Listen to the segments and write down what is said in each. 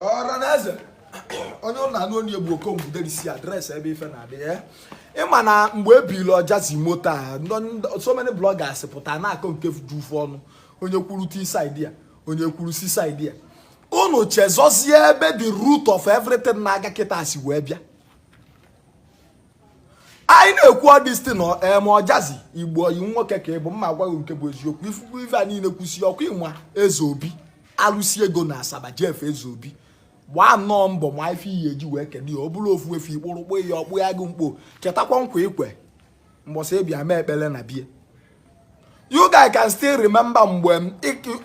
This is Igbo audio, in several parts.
ọra na eze onye ụlọ anụ onye bụ Okongwu derisi adreesị ebe ife na-adị ya ịma na mgbe ebili Ojazzy moto a so many bloggers pụta na-akọ nke juu fa ọnụ onye kwuru etu o si dị ya onye kwuru etu o si dị ya unu chezọzie ebe the root of everything na-aga kịta si wee bịa anyị na-ekwu ọdịsti na em Ojazzy igbo oyi nwoke ka ị bụ mma agwa gị nke bụ eziokwu ifuku ife a niile kwụsị ọkụ ịnwa Ezeobi alụsị ego na Asaba Jeff Ezeobi gbaa nnọọ mbọ ma ife ị ya-eji wee kene ya ọ bụrụ ofu efi ị kpụrụ kpụ ya ọkpụ ya gị mkpo chetakwa nkwa i kwe mbọsị ị bịa mee ekpele na bie you guys can still remember mgbe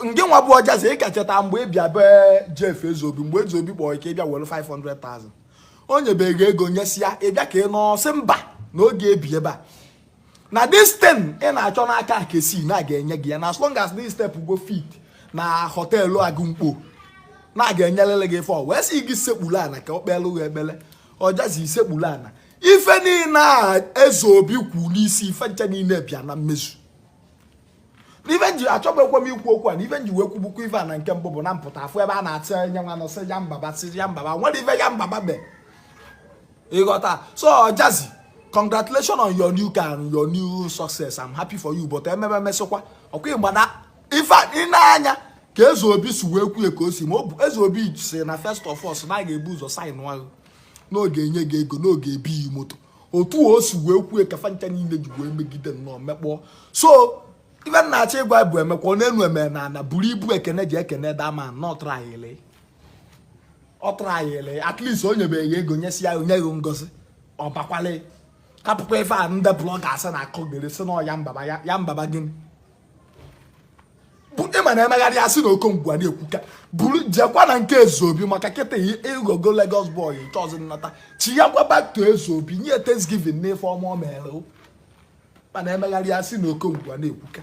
ngị nwa bụ Ojazzy ị ka cheta mgbe ị bịa be Jeff Ezeobi mgbe Ezeobi kpọrọ ị ka ị bịa were 500,000 o nyebe gị ego nyesịa ị bịa ka ị naa ọ sị mba na oge ị bịa ebe a na this thing ị na-achọ n'aka Kcee na ọ ga-enye gị ya na as long as ị step go feet na họteelụ agụmkpo na ọ ga-enyelịlị gị fa ọ wee sị gị sekpuru ana ka ọ kpeelụ gị ekpele Ojazzy i sekpuru ana ife niile a Ezeobi kwuru n'isi ị fa ncha niile bịa na mmezu n'ife nji achọbekwa m ikwu okwu a na ife nji wee kwubukwa ife a na nke mbụ bụ na m pụta afụ ebe a na-atị anya nwa nọ sị ya mbaba sị ya mbaba nwere ife ya mbaba be ịghọta so Ojazzy congratulations on your new car and your new success i'm happy for you but ememe mesịkwa ọkwa ịgbada ife ị na-anya ka Ezeobi si wee kwuye ka o si ma Ezeobi sị na first of all sị na a ga-ebu ụzọ sign ahụ n'oge enye gị ego n'oge ebi ị moto otu o si wee kwue ka fa ncha niile ji wee megide nnọọ mekpọọ so ife m na-achọ ịgwa ị bụ e mekwa n'enu e mee n'ana buru ibu ekene jee kene that man na ọ trylị ọ trylị at least o nyebe gị ego nyesịa o nye gị ngozi ọbakwalị hapụkwa ife a ndị bloggers na-akọgharị sị na ọ ya mbaba ya mbaba gịnị bụ ịma na e megharịa a sị na okongwu a na-ekwuka buru jekwa na nke Ezeobi maka kịta ị ghọgo Lagos boy chọzie nnata chighaakwa back to Ezeobi nye thanksgiving n'ife ọma o mere mana e megharịa a sị na okongwu a na-ekwuka